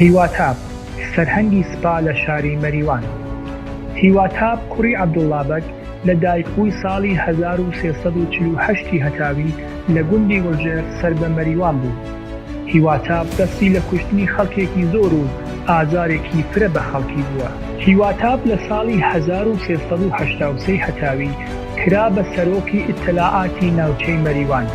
هیواتاپ، سەرهەنگی سپا لە شاری مەریوان هیواتاپ کوڕی عەبدوڵڵا بەگ لە دایکبووی ساڵی هەزار و سێ سەد و چل و هەشت ی هەتاوی لە گوندی وڵجێر سەر بە مەریوان بوو. هیواتاپ دەستی لە کوشتنی خەڵکێکی زۆر و ئازارێکی فرە بە خەڵکی بووە. هیواتاپ لە ساڵی هەزار و سێ سەد و هەشتا و سێ هەتاوی کرا بە سەرۆکی ئیتلاعاتی ناوچەی مەریوان.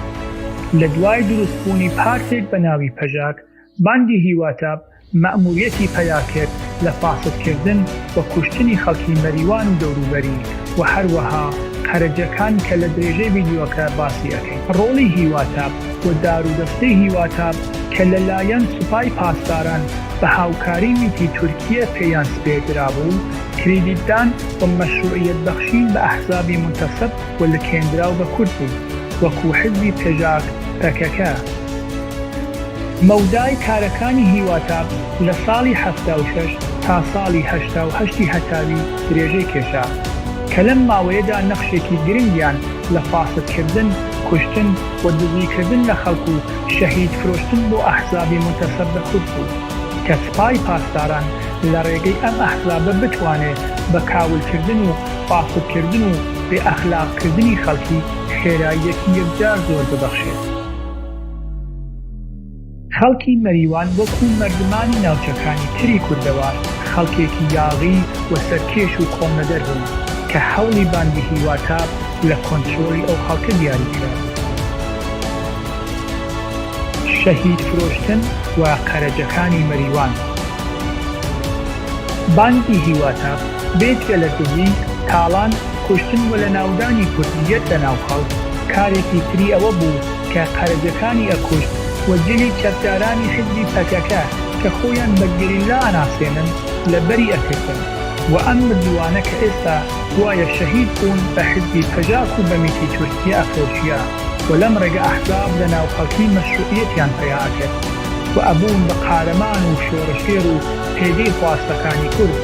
لە دوای دروست بوونی پارتێک بە ناوی پەژاک، باندی هیواتاب مەئموریەتی پەیا کرد لە فاسد کردن و کوشتنی خەڵکی مەریوان و دەوروبەری و هەروەها قەرەجەکان کە لە درێژەی ڤیدیۆکە باسی ئەکەین. ڕۆڵی هیواتاب و دارودەستەی هیواتاب کە لە لایەن سوپای پاسداران بە هاوکاری میتی تورکیە پێیان سپێردرابوو، کریدیتدان و مەشروعیەت بەخشین بە ئەحزابی مونتەسب و لکێندراو بە کورد بوون، وەکوو حزبی پژاک، پەکەکە. مەودای کارەکانی هیواتاب لە ساڵی حەفتا و شەش تا ساڵی هەشتا و هەشت ی هەتاوی درێژەی کێشا، کە لەم ماوەیەدا نەخشێکی گرنگیان لە فاسد کردن، کوشتن و دزی کردن لە خەڵک و شەهید فرۆشتن بۆ ئەحزابی مونتەسب بە کورد بوو، کە سپای پاسداران لە ڕێگەی ئەم ئەحزابە بتوانێ بە کاولکردن و فاسدکردن و بێ ئەخلاقکردنی خەڵکی خێراییەکی یەکجار زۆر ببەخشێت. خەڵکی مەریوان وەکوو مەردمانی ناوچەکانی تری کوردەوار خەڵکێکی یاغی و سەرکێش و کۆڵنەدەر بوون کە هەوڵی باندی هیواتاب لە کۆنترۆڵی ئەو خەڵکە دیاری کرابوو. شەهیدفرۆشتن و قەرەجەکانی مەریوان. بانگی هیواتا بێجگە لە دزی، تاڵان، کوشتن و لەناودانی کوردییەت لە ناو خەڵک، کارێکی تری ئەوە بوو کە قەرەجەکانی ئەکوشت و جلی چەکدارانی حیزبی پەکەکە کە خۆیان بە گەریلا ئەناسێنن لەبەری ئەکردن و ئەم مردووانە کە ئێستا گوایە شەهید بوون بە حیزبی پەژاک و بە میتی تورکیە ئەفرۆشیا و لەم ڕێگە ئەحزاب لە ناو خەڵکی مەشروعیەتیان پەیا ئەکرد. و ئەبوون بە قارەمان و شۆڕشگێر و پێگەی خواستەکانی کورد،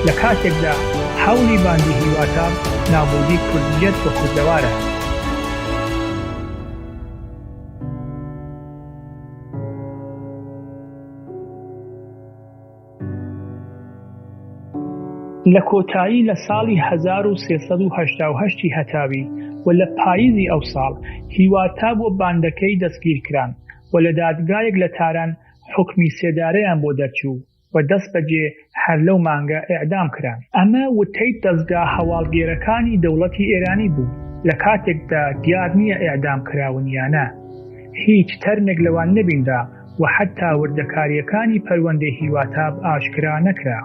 لە کاتێکدا هەوڵی باندی هیواتا نابودی کوردییەت و کوردەوارە. لە کۆتایی لە ساڵی هەزار و سێ سەد و هەشتا و هەشت ی هەتاوی و لە پاییزی ئەو ساڵ، هیواتا بۆ باندەکەی دەستگیرکران، و لە دادگایەک لە تاران حوکمی سێدارەیان بۆ دەرچوو و دەستبەجێ هەر لەو مانگە ئێعدام کران. ئەمە وتەی دەزگا هەواڵگێرەکانی دەوڵەتی ئێرانی بوو، لە کاتێکدا دیار نییە ئێعدام کراون یا نا. هیچ تەرمێک لەوان نەبینرا و حەتتا وردەکارییەکانی پەروەندەی هیواتاب ئاشکرا نەکرا.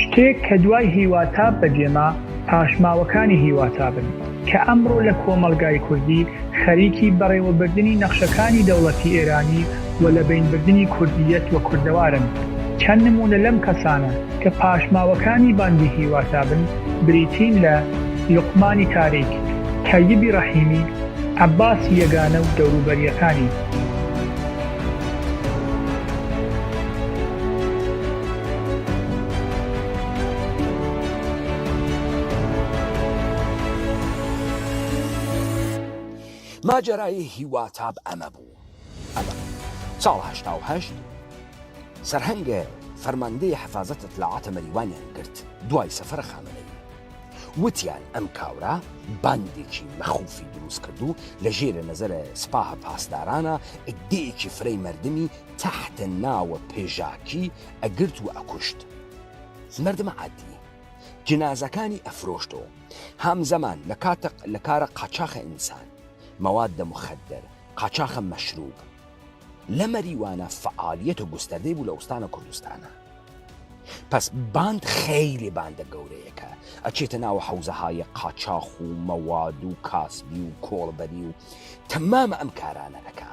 شتێک کە دوای هیواتاب بەجێما پاشماوەکانی هیواتابن کە ئەمڕۆ لە کۆمەڵگای کوردی خەریکی بەڕێوەبردنی نەخشەکانی دەوڵەتی ئێرانی و لە بەینبردنی کوردییەت و کوردەوارن چەند نموونە لەم کەسانە کە پاشماوەکانی باندی هیواتابن بریتین لە لوقمانی تاریک، تەیبی ڕەحیمی، عەباسی یەگانە و دەوروبەرییەکانی. ماجەرای هیواتاب ئەمە بوو. ئەمە ساڵ هەشتا و هەشت سەرهەنگە فەرماندەی حەفازەت ئیتلاعاتە مەریوانیان گرت دوای سەفەرە خامەنەیی وتیان ئەم کاورە باندێکی مەخوفی دروست کرد و لە ژێرە نەزەرە سپاهە پاسدارانە ئیدێکی فرەی مردمی تەحتە ناوە پێژاکی ئەگرت و ئەکوشت مردمە عادی جنازەکانی ئەفرۆشتەوە هەمزەمان لە کاتە لە کارە قاچاخە ئینسان مەواد دەمخەدەر قاچاخە مەشروب لە مەریوانە فەعالیەتە گوستەردەی بوو لە ئوستانە کوردستانە پس باند خەیلی باندە گەورەیەکە ئەچێتە ناوە حەوزەهایە قاچاخ و مەواد و کاسبی و کۆڵبەری و تەمامە ئەم کارانە ئەکا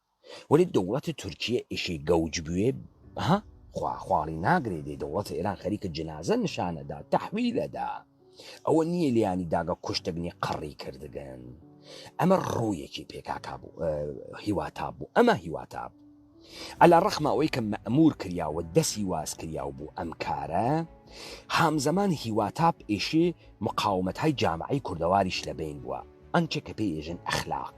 وەلی دەوڵەتی تورکیە ئیشی گەوج بوێ ها خوا خواڵی ناگرێ دێ دەوڵەتی ئێران خەریکە جنازە نیشانەدا تەحویلەدا ئەوە نییە لیانی داگە کوشتگنی قڕی کردگەن ئەمە ڕوویەکی پێکاکا بوو هیواتا بوو ئەمە هیواتا بوو ئەلا ڕەخمە ئەوەی کە مەمور کریاوە دەسی واز کریاو بوو ئەم کارە هامزەمان هیواتاپ ئێشی مقاومەت های جامعی کوردەواریش لە بین بووە ئەنچێ کە پێی ئێژن ئەخلاق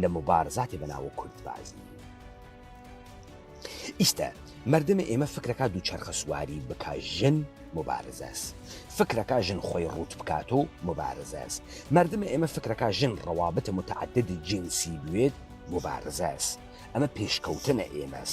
لە موبارزاتی بە ناوو کورد بازی ئیستە مردمە ئێمە فکرەکە دوو چرخە سواری بکە ژن مبارزەس فکرەکە ژن خۆی ڕوت بکات و مبارزەس مردمە ئێمە فکرەکە ژن ڕەوابتە متعدد جنسی بوێت مبارزەس ئەمە پێشکەوتنە ئێمەس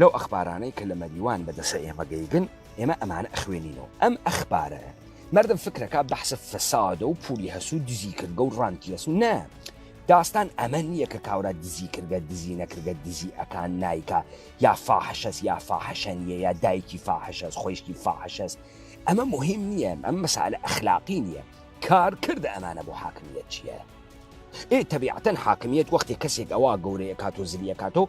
لەو ئەخبارانەی کە لە مەریوان بە دەسە ئێمە گەیگن ئێمە ئەمانە ئەخوێنینەوە ئەم ئەخبارە مردم فکرەکە بەحسە فەسادە و پولی هەسوو دزی کردگە و ڕانتی هەسوو نە داستان ئەمە نییە کە کاورا دزی کردگە دزی نەکردگە دزی ئەکان نیکە یا فاحشەس یا فاحشەنیە یا دایکی فاحشەس خۆشتی فاحشەس ئەمە مهم نییە ئەم مەسالە ئەخلاقی نییە کار کرد ئەمانە بۆ حاکمیت چییە؟ ئێ تەبیعەتەن حاکمیت وەختی کەسێک ئەوە گەورەیە کات و زلیە کاتەوە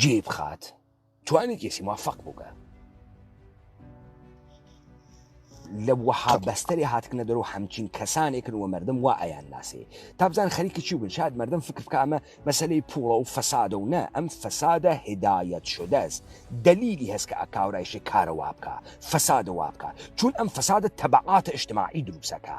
جێی بخات توانی کێسی موفق بووگە لە وەها بەستەری هاتکنە دەرو هەمچین کەسانێکن وە مردم وا ئەیان ناسێ تابزان خەریکی چی بن شاد مردم فکر بکامە مەسلەی پوڵە و فەسادە و نە ئەم فەسادە هدایەت شدەست دلیلی هەست کە ئەکاورایشێ کارە وابکە فەسادە وابکە چون ئەم فەسادە تەبعاتە ئشتماعی دروسەکە